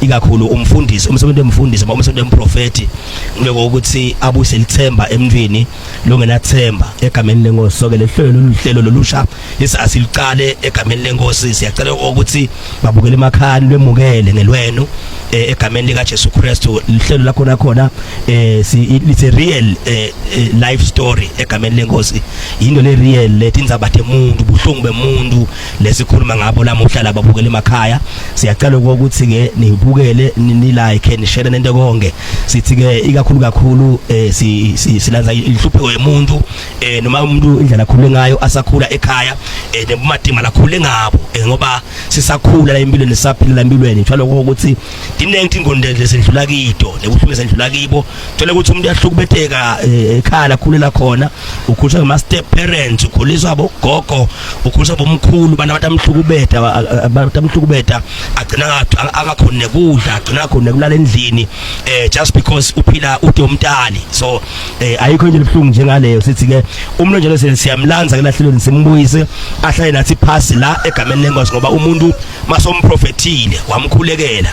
ikakhulu umfundisi umsebenzi wemfundisi noma umsebenzi wemprofeti ngibeke ukuthi abuyise lithemba emntwini longenathemba egameni lenkosi soke lehlelo loluhlelo lolusha esasilicale egameni lenkosi siyacela ukuthi babukele emakhani lwemukele ngelwenu eh, egameni lika Jesu Kristu lihlelo lakho nakhona eh, it's a real eh, life story egameni lenkosi into le real letindzaba temuntu buhlungu bemuntu lesikhuluma ngabo lamuhla laba bukele emakhaya siyacela ukuthi ke nibukele ni like ni share nento konke sithi ke ikakhulu kakhulu eh, silanza inhlupheko yemuntu eh, noma umuntu indlela akhule ngayo asakhula ekhaya eh, nebumatima lakhule ngabo ngoba sisakhula la empilweni sisaphila la empilweni njalo ukuthi diningi ingonde lesidlula kito nebuhlungu sendlula kibo thola ukuthi umuntu uyahlukubeteka eh, ekhala khulela khona ukhuliswa ngama step parents ukhuliswa bogogo ukhuliswa bomkhulu bana abantu amhlukubeta abantu amhlukubeta agcina angakhona nekudla agcina khona kulala endlini eh just because uphila ude umntali so eh ayikho into ebuhlungu njengaleyo sithi ke umuntu njalo sele siyamlanza ke lahlelweni simbuyise ahlale nathi phasi la egameni lengosi ngoba umuntu masomprofethile wamkhulekela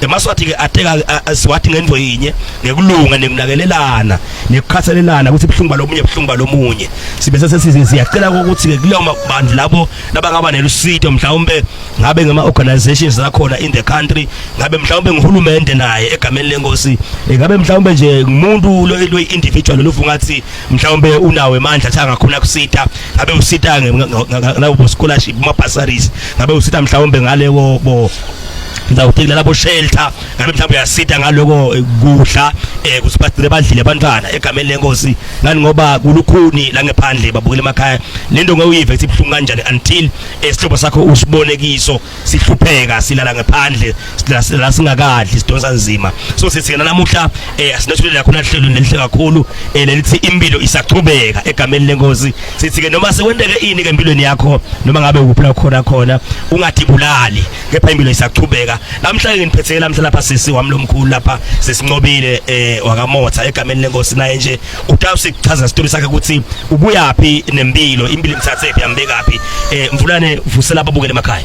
emaswathi ke ateka asiwathi ngento yinye nekulunga nekunakelelana nekukhathalelana ukuthi ibhlungu balomunye ibhlungu balomunye sibe sesisize siyacela ukuthi ke kuleyo mabandla labo labangaba nelusito mhlawumbe ngabe ngama organizations zakhona in the country ngabe mhlawumbe ngihulumende naye egameni lenkosi eh, ngabe mhlawumbe nje umuntu lo individual lofunga athi mhlawumbe unawe mandla athi angakhona kusita ngabe usita ngabo scholarship ma bursaries ngabe usita mhlawumbe ngale bo ngicabanga ukuthi kulala boshelter ngabe mhlawumbe uyasita ngaloko eh, kudla eh kuthi bagcine badlile abantwana egameni lenkosi ngani ngoba kulukhuni la ngephandle babukele emakhaya lento ngewuyive ukuthi ibhlungu kanjani until esihlobo eh, sakho usibone kiso sihlupheka silala ngephandle la singakadli sidonsa nzima so sithi namuhla eh asinethulela khona hlelo nelihle kakhulu eh lelithi impilo isaqhubeka egameni lenkosi sithi ke noma sekwenteke ini ke empilweni yakho noma ngabe ukuphila khona khona ungadibulali kepha impilo isaqhubeka namhla ke ngiphethe namhla lapha sisi wami lomkhulu lapha sesincobile eh wakamotha egameni lenkosi naye nje utawusi chaza isitori sakhe ukuthi ubuyaphi nempilo impilo imthathe phi ambekaphi eh mvulane vusela ababukele emakhaya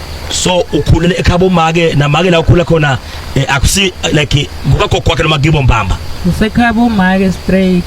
so ukhulele ekhabo make namake la ukhula khona eh, akusi like ngoba kokwakhe noma kibo mbamba usekhabo make straight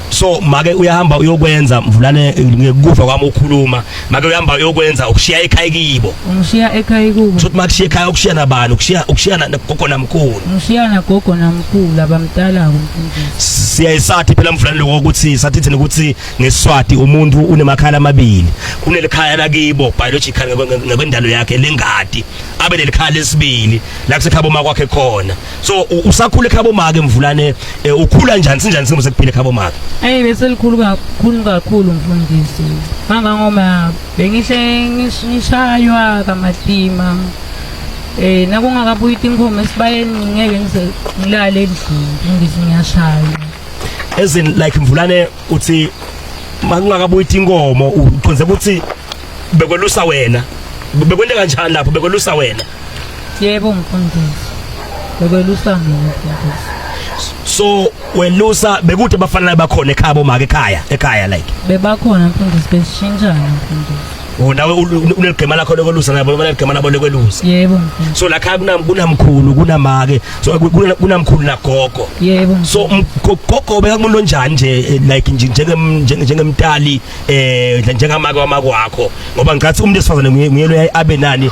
so make uyahamba uyokwenza mvulane ngekufa kwami ukhuluma make uyahamba uyokwenza ukushiya ekhaya kibo ngishiya ekhaya kubo sothi makushiya ekhaya ukushiya nabani ukushiya ukushiya nagogo namkhulu ngishiya nagogo namkhulu abamdala kumfundisi siyayisathi phela mvulane lokho ukuthi sathi thina ukuthi ngeswati umuntu unemakhala amabili kunelikhaya lakibo biological ngokwendalo yakhe lengadi abe nelikhala lesibili la kusekhabo makwakhe khona so usakhula ekhabo make mvulane eh, ukhula njani sinjani simo sekuphila ekhabo make hey bese likhulu kakhulu kakhulu mfundisi nganga ngoma bengihle ngishaywa kamatima eh nakungakabuyi tinkomo esibayeni ngeke ngilale endlini ngizingiyashaywa as in like mvulane uthi makungakabuyi inkomo uqonze ukuthi bekwelusa wena bekwente kanjani lapho bekwelusa wena yebo mfundisi bekwelusa mina mfundisi so welusa bekude bafanele bakhona ekhaya bomake ekhaya ekhaya like bebakhona mfundisi besishintshana mfundisi Oh nawe uneligema lakho lokwelusa nabo noma ligema nabo lokwelusa. Yebo. So la khaya kunam kunamkhulu kunamake so kunamkhulu nagogo. Yebo. So gogo beka kumuntu onjani nje eh, like nje njenge njengemtali eh njengamake wamako wakho ngoba ngicathi umuntu esifazane nguyelo abe nani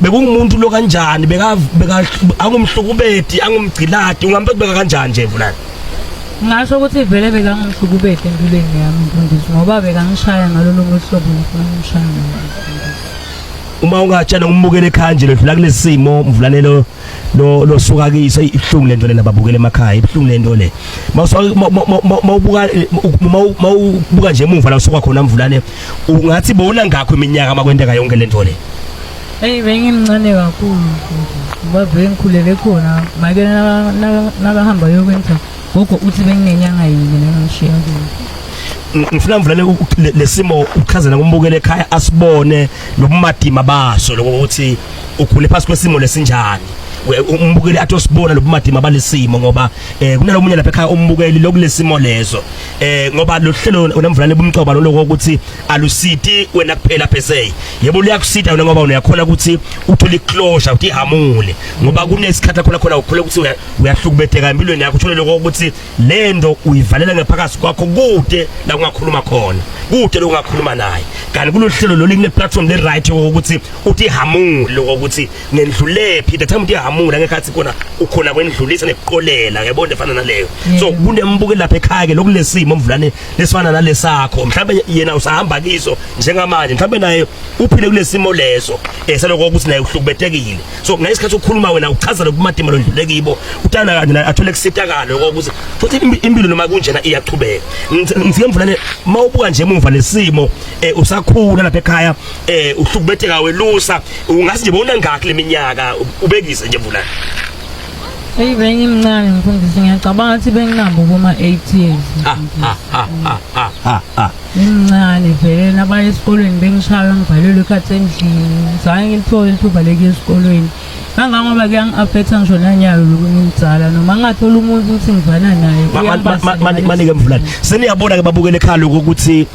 bekungumuntu lo kanjani beka angumhlukubedi angumgciladi ungambe kubeka kanjani nje vulani ngasho ukuthi vele bekangumhlukubedi empilweni yami mfundisi ngoba bekangishaya ngalolo mhlobo ngifuna umshaya uma ungatshela umbukele ekhaya nje ledlula kulesimo mvulanelo lo lo suka kiso ibuhlungu lento lena babukele emakhaya ibuhlungu lento le mawubuka mawubuka nje emuva la usuka khona mvulane ungathi bona ngakho iminyaka makwenteka yonke lento le Hey bengimncane kakhulu babe ngikhulele khona make nakahamba yokwenza gogo uthi benginenyanga yini nengishiya kuyo ngifuna mvulane lesimo uchazela kumbukele ekhaya asibone lobumadima baso lokuthi ukhule phansi kwesimo lesinjani umbukeli athi osibona lobumadima balesimo ngoba eh kunalomunye lapha ekhaya umbukeli lokulesimo lezo eh ngoba lohlelo unemvulane bumcoba lokho ukuthi alusiti wena kuphela phese yebo liyakusita wena ngoba uyakhona ukuthi uthole closure uthi hamule ngoba kunesikhathi khona khona ukhule ukuthi uyahlukubetheka empilweni yakho uthole lokho ukuthi lento uyivalela ngephakathi kwakho kude la ungakhuluma khona kude lokungakhuluma naye kanti kulohlelo lolu kune platform le right ukuthi uthi hamule ukuthi nendlulephi the time uthi hamule ngekhathi khona ukhona kwendlulisa nekuqolela yabona efana naleyo so kunembuke lapha ekhaya ke lokulesimo omvulane lesifana nalesakho mhlawumbe yena usahamba kiso njengamanje mhlawumbe naye uphile kulesimo leso eseloko eh, ukuthi naye uhlukubetekile so ngesikhathi ukhuluma wena uchaza lokumatima londlule kibo utana kanje naye athole kusitakalo ukuthi futhi impilo noma kunjena iyachubeka ngifike mvulane mawubuka nje emuva lesimo eh, usakhula lapha ekhaya eh uhlubetheka welusa ungathi nje bona ngakho leminyaka ubekise nje mvulana Hey bengimncane mfundisi ngiyacabanga ukuthi benginabo kuma 8 years. Ah ah ah ah ah ah. ah. Ngimncane vele nabaya esikolweni bengishaya ngibhalelwe ikhathi endlini. Ngizange ngithole ithuba lekuya esikolweni. Kangangoba kuyangi-affecta ngisho nanyayo lokunye umdzala noma ngingathola umuntu ukuthi ngivana naye. Manike mvulane. Seniyabona ke babukele ekhaya lokuthi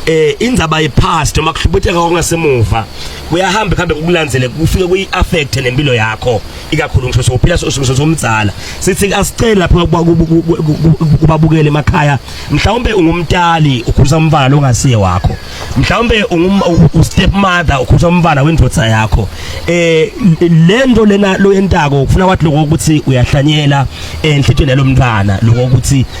eh indzaba yepast uma kuhlubutheka okungasemuva kuyahamba kuhambe kukulandzele kufike kuyi affect nempilo yakho ikakhulu ngisho sokuphila sosukuzo somdzala sithi asicela lapha kubabukele emakhaya mhlawumbe ungumtali ukhuza umfana longasiye wakho mhlawumbe u step mother ukhuza umfana wendvodza yakho eh lento lena loyentako ufuna wathi lokho ukuthi uyahlanyela enhlitshweni eh, yalomntwana lokho ukuthi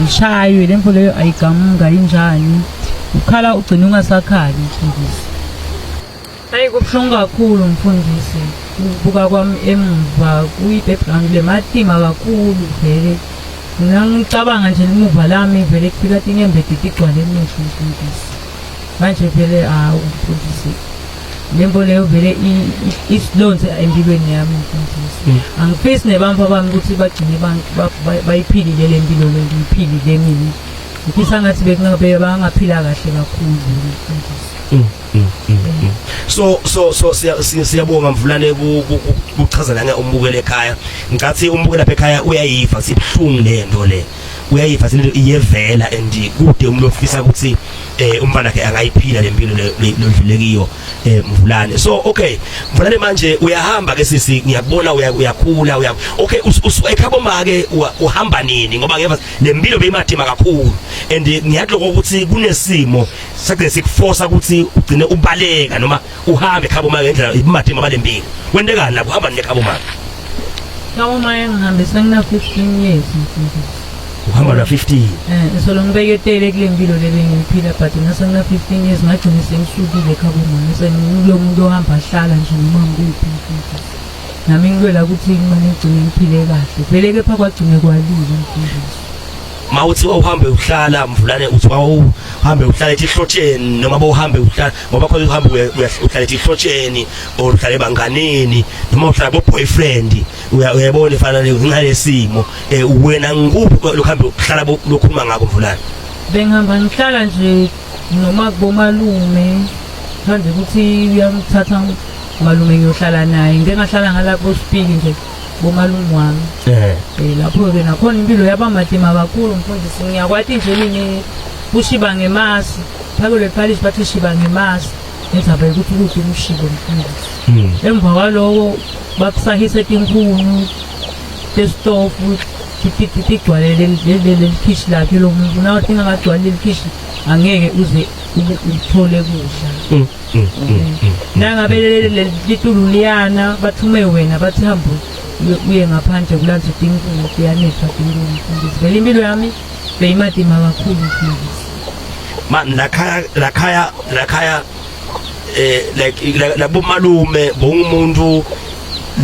ngishaywe le mfo leyo ayigamuka injani ukhala ugcina ungasakhali mfundisi hayi kubuhlungu kakhulu mfundisi ukubuka kwami emuva kuyi-background lematima kakhulu vele mina ngicabanga nje limuva lami vele kufika tinyembedeti igcwale emehlo mfundisi manje vele hawu mfundisi le nto leyo vele isilonze empilweni yami mfundisi hmm. angifisi nebantu abami ukuthi bagcine bayiphilile le mpilo le ngiyiphilile mina ngifisa ngathi bekungabe bangaphila kahle kakhulu mfundisi hmm, hmm, so so so siyabonga mvulane kuchaza nanga umbukele ekhaya ngicathi umbukela lapha ekhaya uyayiva sibuhlungu le nto le uyayiva lento iyevela and kude umuntu ofisa ukuthi eh umfana ke angayiphila lempilo lodlule kiyo eh mvulane so okay mvulane manje uyahamba ke sisi ngiyakubona uyakhula uya okay ekhabo make uhamba nini ngoba ngeva lempilo beyimathima kakhulu and ngiyadloko ukuthi kunesimo sakhe sikuforce ukuthi ugcine ubaleka noma uhambe khabo maka ngendlela ibumatima balembile kwentekani la kuhamba nine khabo maka Ngabo maye ngihambe sengina 15 years mfundisi. uhamba na 15 Eh solo ngibeke tele kule mpilo le bengiphila but ngase ngina 15 years ngagcina sengisukile khabo manje sengilo muntu ohamba ahlala nje noma ngikuphi mfundisi. Nami ngilwela ukuthi imali ngigcine ngiphile kahle. Vele kepha kwagcine kwalile mfundisi. mawuthi wawuhambe uhlala mvulane uthi wawuhambe uhlala ethi hlotsheni noma bowuhambe uhlala ngoba khona uhamba uhlala ihlotsheni or uhlala ebanganeni noma uhlala bo boyfriend uyabona ifana ngalesimo eh, wena ngikuphi lokho hamba uhlala lokhuluma ngako mvulana bengihamba ngihlala nje noma kubomalume manje ukuthi uyamthatha malume ngiyohlala naye ngeke ngahlala ngalapho sipiki nje bomalume wami eh, eh lapho-ke nakhona impilo yaba madima kakhulu mfundisi ngiyakwati nje mina kushiba ngemasi Phakule Parish bathi shiba ngemazi ngizaba ukuthi ukuphi umshibo mfundisi. Hmm. Emva kwaloko bakusahise tinkuni testofu tigcwale leli khishi lakhe lo muntu nawe tingakagcwali leli khishi angeke uze uthole kudla hmm, hmm, nangabe litulu liyana bathume wena bathi hambe uye ngaphandle kulanza tinkuni kuyanethwa tinkuni mfundisi vele impilo yami Beyimadima kakhulu mfundisi. Ma lakhaya lakhaya lakhaya eh like labo malume bongumuntu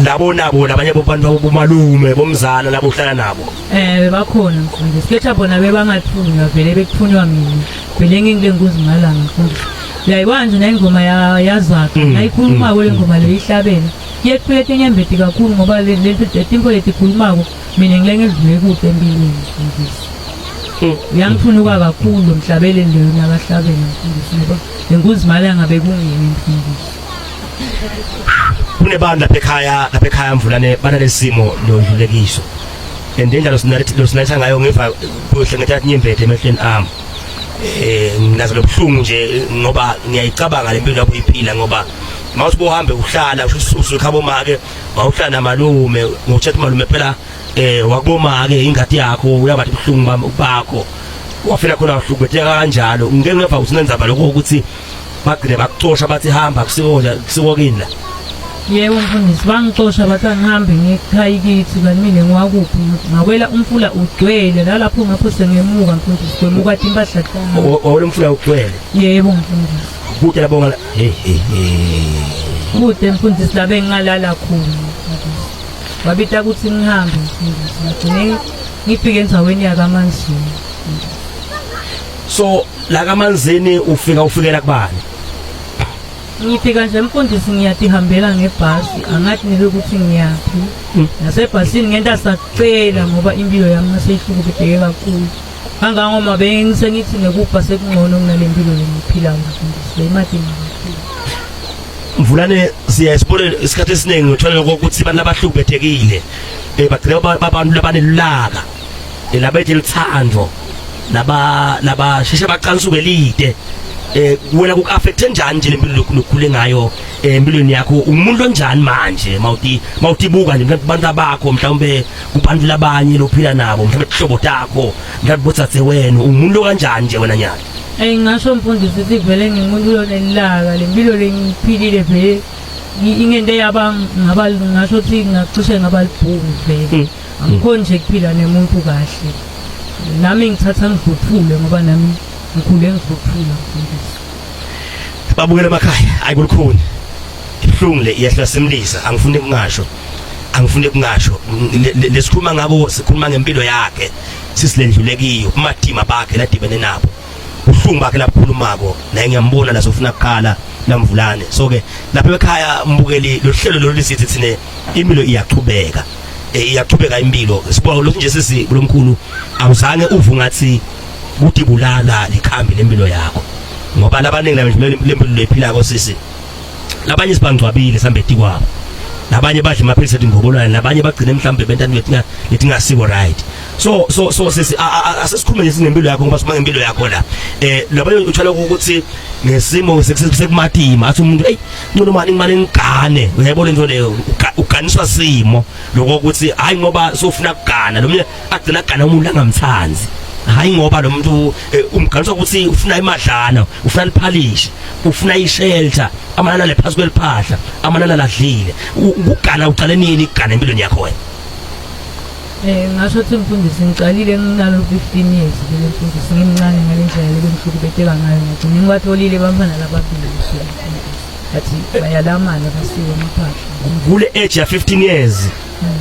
labo nabo labanye bobantu bomalume bomzala labo uhlala nabo eh bebakhona mfundisi kepha bona bebangathunywa vele bekuthunywa mina vele ngingile nkuzi ngalanga mfundisi uyayibona nje nayingoma yazakhe mm, nayikhulumako mm, le ngoma mm. leyo ihlabene iyeqhuleta enyembeti kakhulu ngoba letimpho letikhulumako mina ngilenge ngidlule kude empilweni mfundisi uyangiphunuka hmm. kakhulu mhlabele leyo nakahlabele mfundisi ngoba lenkunzi imali angabe kungiyena mfundisi kunebantu lapha ekhaya lapha ekhaya mvulane banalesimo lodlulekiso and indlela losinayitha ngayo ngiva kuhle ngethatha inyembethe emehlweni ami eh nginazo lobuhlungu nje ngoba ngiyayicabanga lempilo lapho iphila ngoba mawuthi bohambe uhlala usukhabo make wawuhlala namalume ngokutshela ukuthi malume phela um wakuboma-ke ingadi yakho uyabathi buhlungu bakho wafela khona wahlukubetheka kanjalo ngike ngeva ukuthi nenzaba lokho ukuthi bagcine bakucosha bathi hamba kusiko kini la yebo mfundisi bangixosha bathi angihambe ngikhaya kithi kanti mina ngiwakuphi ngakwela umfula ugcwele nalapho ngapho sengemuka mfundisi kwemuka impahla wawela umfula ugcwele yebo mfundisi kude labonga Hey hey hey. Mude mfundisi la bengingalala khona. Wabita ukuthi ngihambe mfundisi. Ngigcine ngifike endaweni yakaManzini. So la kaManzini ufika ufikela kubani? ngifika nje mfundisi ngiyadihambela ngebhasi angathi nike ukuthi ngiyaphi hmm. nasebhasini ngenta sacela ngoba impilo yami naseyihlukuphetheke kakhulu Kangangoba bengisengithi nekubha sekungcono kunale mpilo lengiphilayo mfundisi beyimadinga kakhulu. Mvulane siya isibone isikhathi esiningi uthola ukuthi abantu abahlubethekile eh bagcina abantu labanelulaka eh, labethi lithando laba laba sheshe baqansuke lide eh wena kukaffecthe njani nje lempilo lokukhule ngayo eh, empilweni yakho umuntu onjani manje mawuti mawutibuka nje abantu abakho mhlawumbe kubantu labanye lophila nabo mhlawumbe ihlobo takho mhlawumbe botsatse wena umuntu kanjani nje wena nyaka eyi ngasho mfundisi ukuthi vele ngimuntu lonelilaka le mpilo lengiphilile vele ingento eyaba ngaba ngasho ukuthi ngacishe ngaba libhungu vele hmm. angikhoni nje kuphila nemuntu kahle nami ngithatha ngidluphule ngoba nami ngikhule ngidluphula mfundisi babukela emakhaya ayi kulukhuni ibuhlungu le iyehla simlisa angifuni kungasho angifune kungasho lesikhuluma ngako sikhuluma ngempilo yakhe sisilendlule kiyo umadima bakhe ladibene nabo uhlungu bakhe labukhulumako naye ngiyambona la sofuna kuqala lamvulane so ke lapha ekhaya mbukeli lohlelo lolu sithi thine impilo iyaqhubeka eh, iyaqhubeka impilo sibuka lokhu nje sisi kulomkhulu awuzange uvu ngathi kudibulala likhambi lempilo yakho ngoba labaningi lempilo lephila ko sisi labanye sibangcwabile sambeti kwabo nabanye badla amaphilisi ethi ngobolwane nabanye bagcine mhlawumbe benta into etingasiko right so so so sisi asesikhulume nje sinempilo yakho ngoba sima ngempilo yakho la eh labanye uthola ukuthi nesimo sekumatima athi umuntu hey ngcono mani imali ngigane uyayibona into leyo uganiswa simo lokho ukuthi hayi ngoba sofuna kugana lo agcina agana umuntu angamthanzi hayi ngoba lo muntu eh, umgaliswa ukuthi ufuna imadlana ufuna liphalishe ufuna ishelter amanana lephasi kweliphahla amanana ladlile ukugana uqale nini ukugana empilweni yakho wena Eh ngasho ukuthi mfundisi ngiqalile nginalo 15 years le mfundisi ngimncane ngale ndlela le bengihlukubeteka ngayo ngagcina ngibatholile bamfana lababili athi bayalamana basiwe amaphahla kule age ya 15 years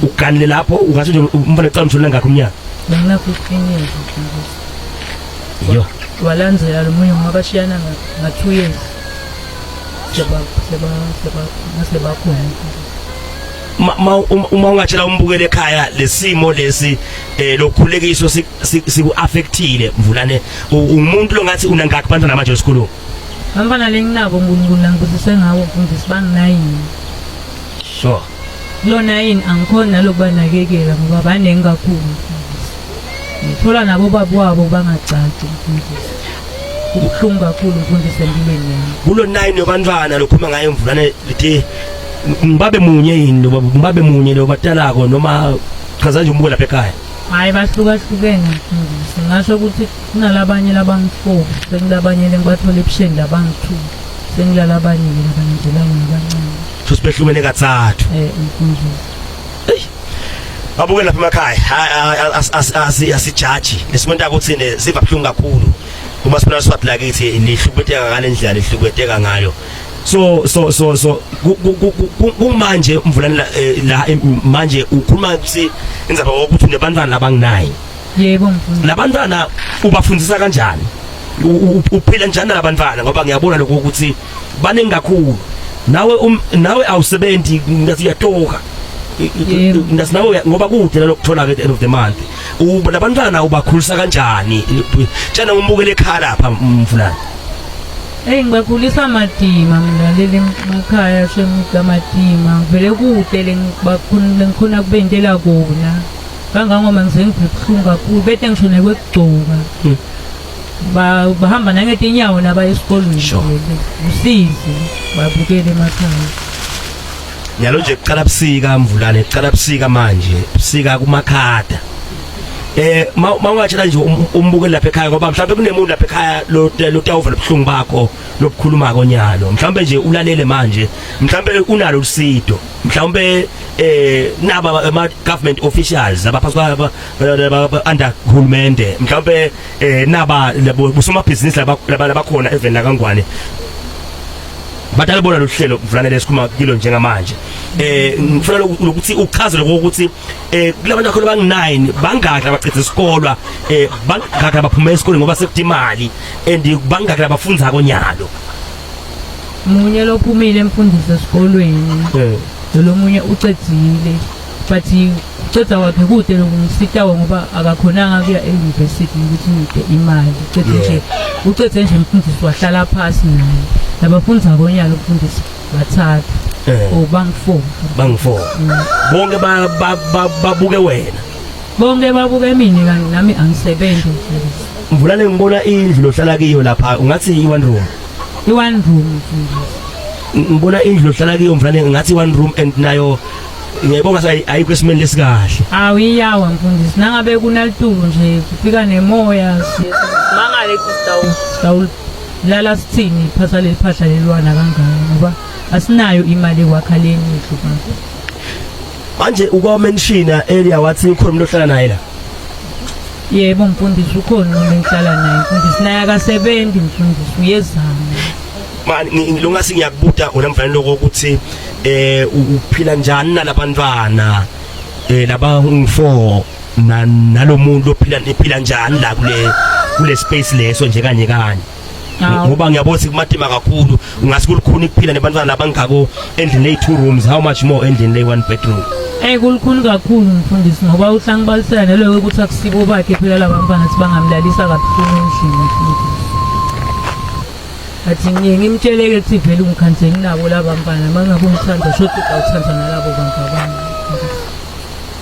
uganile lapho ungase nje umfana ecala umshonela ngakho umnyaka bengakho iqiniso yo walandzela lo munye ngoba bashiyana nga-two years sebakhona uma ungatshela umbukele ekhaya lesimo lesi eh lokhulekiso siku-affectile mvulane umuntu longathi unangakhi bantwana manje esikolweni bantwana lenginabo unkulunkulu angibusise ngawo mfundisi banginayini sure lona yini angikhoni nalokubanakekela ngoba baningi kakhulu mfundisi ngithola nabo baba wabo bangagcagci mfundisi ubuhlungu kakhulu mfundisi empilweni yami kulo nine yobantwana lokhuluma ngayo mvulane lithi ngibabe munye yini loba ngibabe munye lo batalako noma chaza nje umbuko lapha ekhaya hayi bahlukahlukene mfundisi ngasho ukuthi kunalabanye labangifo sekulabanye lengibathola ebusheni labangi-two Sengilala abaningi nabangizelanga nabancane. So sibehlukene kathathu. Eh mfundisi. Eish. Babuke lapha emakhaya asijaji lesimuntu akuthini siva buhlungu kakhulu uma sibona swati lakithi lihlukubeteka ngale ndlela lihlukubeteka ngayo so so so so kumanje mvulane la eh, manje ukhuluma ukuthi inzaba ukuthi unebantwana labanginayi yebo mfundisi labantwana ubafundisa kanjani uphila njani labantwana ngoba ngiyabona lokho ukuthi baningi kakhulu nawe um, nawe awusebenzi ngathi uyatoka ngathi nawe ngoba kude lokuthola ke at the end of the month labantwana ubakhulisa kanjani tshena umbukele ekhaya lapha mfulana Hey ngibakhulisa madima mina leli makhaya shemga madima vele kude lengibakhona lengikhona kubentela kona kangangoba ngiseyive buhlungu kakhulu bete ngisho nekwekugcoka hmm. bahamba nangetinyawo nabaya esikolweni usizi babukele emakhaya yalo nje kuqala busika mvulane kuqala busika manje busika kumakhada eh mawungatshela nje um, umbukeli lapha ekhaya ngoba mhlawumbe kunemuntu lapha ekhaya lo lotawuva lobuhlungu bakho lokukhuluma konyalo mhlawumbe nje ulalele manje mhlawumbe unalo usido mhlawumbe eh naba ama government officials abaphathi kwa under hulumende mhlawumbe eh naba busoma business laba labakhona even la kangwane batalibona lohlelo mfana lesikhuma kilo njengamanje eh ngifuna lokuthi uchaze lokho ukuthi eh kulabantu akhona banginine bangakha abacitha isikolwa eh bangakha abaphuma esikoleni ngoba sekudimali and bangakha abafundza konyalo munye lophumile emfundisi esikolweni eh. lomunye ucedzile but uceda wakhe kude lokumsitawo ngoba akakhonanga kuya e-university ukuthi ngide imali ucede nje ucede nje mfundisi wahlala phasi naye nabafundisa ngonyaka umfundisi bathathu eh. or oh, bangifour bangifour mm. bonke babuke wena Bonke babuka emini kanti nami angisebenzi mfundisi. Mvulane ngibona indlu lohlala kiyo lapha ungathi i-one room. I-one room mfundisi. Ngibona indlu lohlala kiyo mvulane ngathi i-one room and nayo ngiyayibonga sa ayikho esimeni lesikahle. Awu iyawa mfundisi nangabe kunalitulu nje kufika nemoya. Mangale kustawu. Stawu lala sithini phasa leliphahla lelwana kangaka ngoba asinayo imali ekwakhaleni indlu manje. Manje uko mention earlier wathi ukhona umuntu ohlala naye la. Yebo mfundisi ukhona umuntu engihlala naye mfundisi naye akasebenzi mfundisi uyezama. Mani ngilunga singiyakubuta wena mfana lokho ukuthi eh uphila njani nalabantwana eh laba ungu4 nalomuntu ophila niphila njani la kule kule space leso nje kanye kanye ngoba ngiyabona ukuthi kumatima kakhulu ngase kulukhuni ukuphila nebantwana labangako endlini lay two rooms how much more endlini lay one bedroom Eh kulukhuni kakhulu mfundisi ngoba uhlangu balisela nelo ukuthi akusibo bakhe phela labantwana sibangamlalisa kabuhlungu endlini futhi athi ngiye ngimtsheleke ukuthi vele ungikhanseli nabo laba mfana mangabe umthanda shothi uthanda nalabo bantu abanye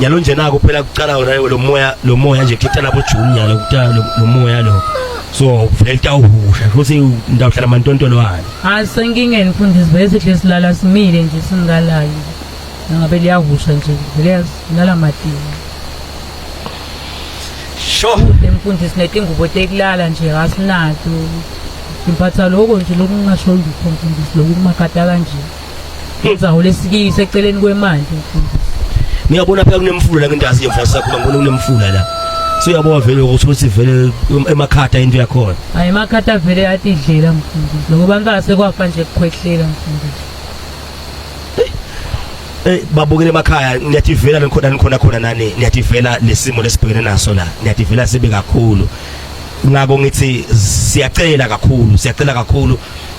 nyalo nje naku phela kuqala wona lo moya lo moya nje kuthatha lapho June nyalo kuthatha lo moya lo so vele tawuhusha futhi ndawuhlala mantontolo wani hayi senkingeni mfundisi bese sihle silala simile nje singalayo ngabe liyahusha nje vele silala madini sho mfundisi netingubo tekulala nje asinatu imphatha lokho nje lokungasho lutho mfundisi lokumakata kanje Ngizahole sikiyi seceleni kwemali. Ngiyabona phela kunemfula la ngendazi yemfula sakho ngibona kunemfula la. So uyabona vele ukuthi uthi vele emakhatha into yakhona. Hayi emakhatha vele yatidlela mfundisi. Ngoba ngase kwafa nje kukhwehlela mfundisi. Eh babukele emakhaya niyativela nikhona nikhona khona nani niyativela lesimo lesibhekene naso la niyativela sibe kakhulu ngako ngithi siyacela kakhulu siyacela kakhulu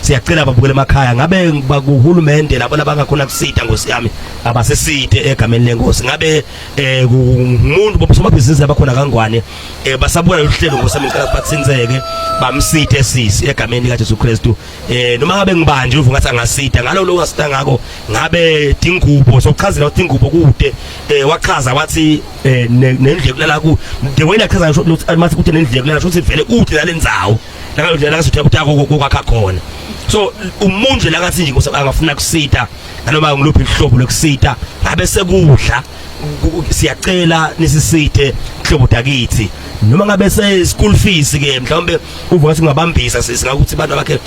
siyacela babukele emakhaya ngabe bakuhulumende labo labangakhona kusita ngosi yami abasisite egameni lenkosi ngabe eh umuntu bobusomabhizinisi abakhona kangwane eh basabona uhlelo ngosi yami ngicela bathinseke bamsite sisi egameni lika Jesu Kristu eh noma ngabe ngibanje uvuka ngathi angasita ngalo lo ngasita ngako ngabe tingubo sokuchazela ukuthi ingubo kude eh wachaza wathi eh nendlekulala ku the way nachaza ukuthi mathi kude nendlekulala ukuthi vele kude nalendzawo nakalo ndlela kathi utya kokwakha khona so umuntu nje lakathi nje angafuna kusita nanoma ngiluphi ihlobo lokusita ngabe sekudla siyacela nisisithe hlobo dakithi noma ngabe se school fees ke mhlawumbe uvuka singabambisa sisi ngakuthi abantu bakhe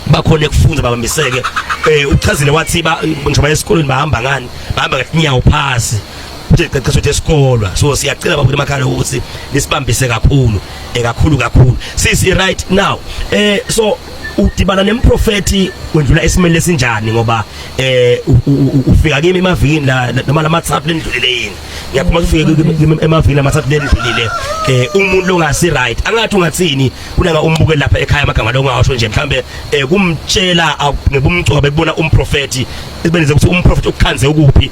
bakhona ekufunda babambiseke eh uchazile wathi ba ngisho bayesikoleni bahamba ngani bahamba ngenyawo phasi nje qeqesho ukuthi esikolwa so siyacela babuthi emakhaya ukuthi nisibambise kakhulu ekakhulu eh, kakhulu sisi right now eh so udibana nemprofeti wendlula esimeni lesinjani ngoba eh ufika kimi emavikini la noma lamathathu lendlulile yini ngiyaphuma ufike kimi emavikini lamathathu lendlulile eh umuntu longasi right angathi ungathini kunanga umbuke lapha ekhaya amagama longasho nje mhlambe eh, kumtshela ngebumcoba bekubona umprofeti ibenze ukuthi umprofeti ukukhanze ukuphi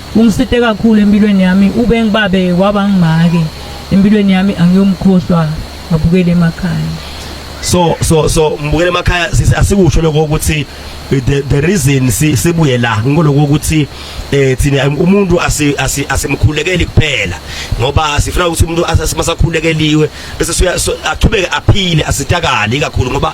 Ungisite kakhulu empilweni yami ube ngibabe waba ngimake empilweni yami angiyomkhohlwa ngabukele emakhaya. So so so ngibukele emakhaya asikusho lokho ukuthi the the reason sibuye la ngoloko ukuthi eh thina umuntu asimkhulekeli kuphela ngoba sifuna ukuthi umuntu asimasakhulekeliwe bese aqhubeke aphile asitakale kakhulu ngoba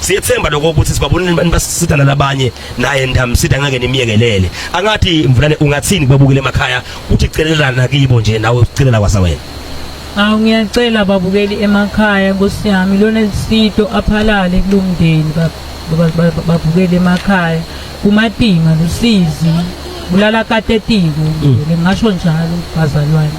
siyethemba lokho ukuthi sibabonile abantu basisida nalabanye naye ndamsida ngeke nimiyekelele angathi mvulane ungathini kubabukile emakhaya uthi celelana kibo nje nawe ucelela kwasa wena Awu ngiyacela babukeli emakhaya Nkosi yami lona lisito aphalale kulomndeni babukele emakhaya kumatima lusizi bulala katetiko ngingasho njalo bazalwane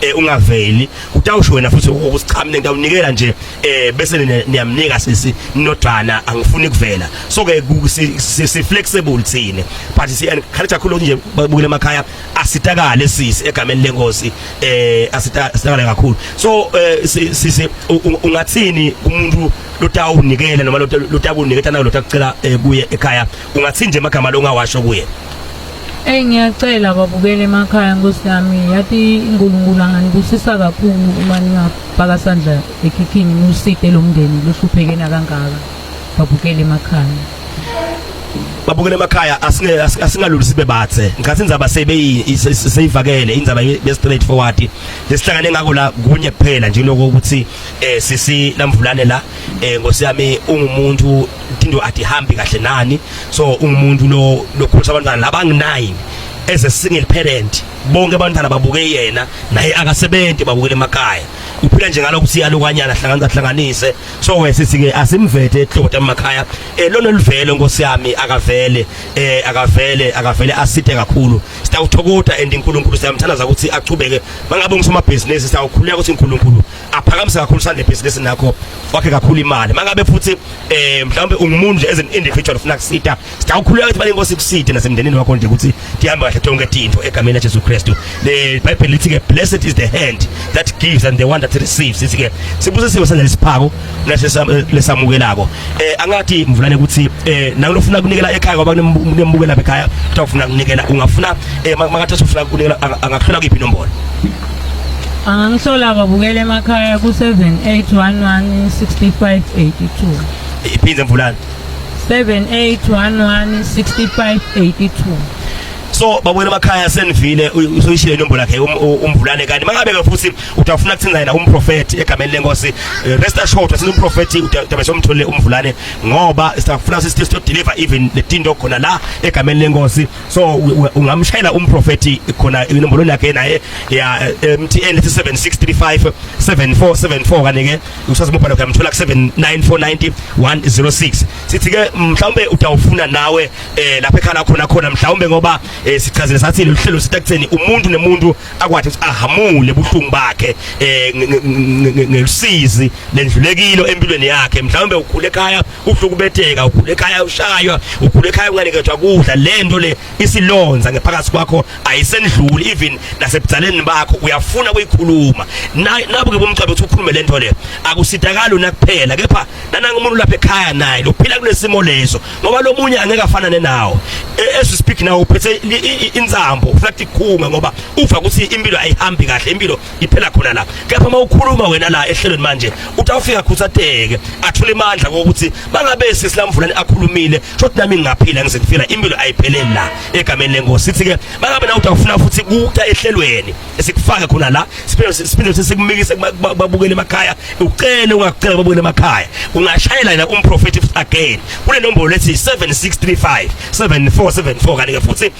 eh ungaveli utawusho wena futhi ukusiqhamne ngitawunikela nje eh bese niyamnika sisi nodwana angifuni kuvela so ke si flexible thina but si encourage kakhulu nje babukele emakhaya asitakale sisi egameni lenkosi eh asitakale kakhulu so eh, sisi ungathini kumuntu lotawunikela noma lotakunikela nayo lotakucela eh, kuye ekhaya ungathini nje amagama longawasho kuye Eyi ngiyacela babukele emakhaya nkosi yami yathi uNkulunkulu anganibusisa kakhulu uma ningabhaka sandla ekhikhini niwuside lo mndeni lohlupheke nakangaka babukele emakhaya babukele emakhaya asingaluli sibe bathe ngikhathi indzaba seyivakele indzaba ye-straight forward lesihlangane ngako la kunye kuphela nje lokho ukuthi um eh, sisi lamvulane la eh ngosi yami ungumuntu into adihambi kahle nani so ungumuntu lo lokhulisa abantwana labanginayini as a single parent bonke abantwana babuke yena naye akasebenzi babukele emakhaya uphila nje ngalokho siyalukanyana hlanganisa hlanganise so wese sike asimvethe ehloko emakhaya eh lona livele nkosi yami akavele eh akavele akavele asithe kakhulu sitawuthokoda and uNkulunkulu siyamthandaza ukuthi achubeke mangabe ngisomabhizinisi sitawukhuleka ukuthi uNkulunkulu aphakamise kakhulu sande business nakho wakhe kakhulu imali mangabe futhi eh mhlawumbe ungumuntu nje as an individual ufuna kusita sitawukhuleka ukuthi bani inkosi kusite nasemndenini wakho nje ukuthi tihambe kahle tonke tinto egameni laJesu Kristu le bible lithi ke blessed is the hand that gives and the one that receives sithi ke sibuze siwe sanje lesiphako lesamukelako eh angathi mvulane ukuthi eh nakulofuna kunikela ekhaya ngoba kunembukela bekhaya utawufuna kunikela ungafuna eh mangathi usufuna kunikela angakhula kuyiphi inombolo Angangihlola ababukela emakhaya ku-78116582. Iphinde mvulane. 78116582. so babona emakhaya senivile usoyishile inombolo yakhe um, umvulane kanti mangabe ke futhi utafuna kuthenza yena umprofeti egameni lenkosi eh, rest assured ukuthi umprofeti utabe somtholile umvulane ngoba sitafuna sithi to deliver even letinto khona la egameni lenkosi so ungamshayela umprofeti khona inombolo yakhe naye ya eh, MTN 7635 7474 kane ke usazi mobile wakhe amthola ku 79490106 sithi ke mhlawumbe utawufuna nawe eh lapha ekhala khona khona mhlawumbe ngoba eh, sichazile sathi lolu hlelo sitakutheni umuntu nemuntu akwathi ukuthi ahamule buhlungu bakhe eh ngelusizi lendlulekilo empilweni yakhe mhlawumbe ukhule ekhaya kuhlukubetheka ukhule ekhaya ushaywa ukhule ekhaya unganikethwa kudla lento le isilonza ngephakathi kwakho ayisendluli even nasebuzaleni bakho uyafuna kuyikhuluma nabo ke bomcebo uthi ukhulume lento le akusitakali una kuphela kepha nananga umuntu lapha ekhaya naye lophila kulesimo leso ngoba lomunye angeke afanane nawo e, as we speak now uphethe inzambo ufuna ukuthi ikhunga ngoba uva ukuthi impilo ayihambi kahle impilo iphela khona la kepha uma ukhuluma wena la ehlelweni manje uthi awufika khusateke athule imandla kokuthi bangabe sisilamvulani akhulumile shothi nami ngingaphila ngize ngifila impilo ayipheleli la egameni lenkosi sithi ke bangabe na uthi awufuna futhi kuta ehlelweni esikufaka khona la siphinde siphinde sikumikise babukele emakhaya ucele ungakucela babukele emakhaya ungashayela yena umprofeti again kule nombolo lethi 7635 7474 kanike futhi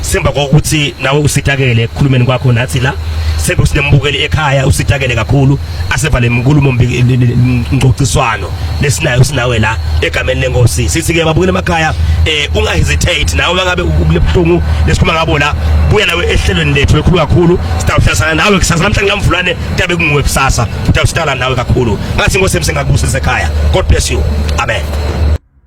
Simba kokuthi nawe usitakele ekukhulumeni kwakho nathi la sebe sinembukeli ekhaya usitakele kakhulu asevale inkulumo ngcociswano lesinayo sinawe la egameni lenkosi sithi ke babukele emakhaya eh unga hesitate nawe mangabe ubuhlungu lesikhuluma ngabo la buya nawe ehlelweni lethu elikhulu kakhulu sitawuhlasana nawe kusasa namhlanje ngamvulane tabe kunguwe kusasa utawusitala nawe kakhulu ngathi inkosi emsengakubusisa ekhaya god bless you amen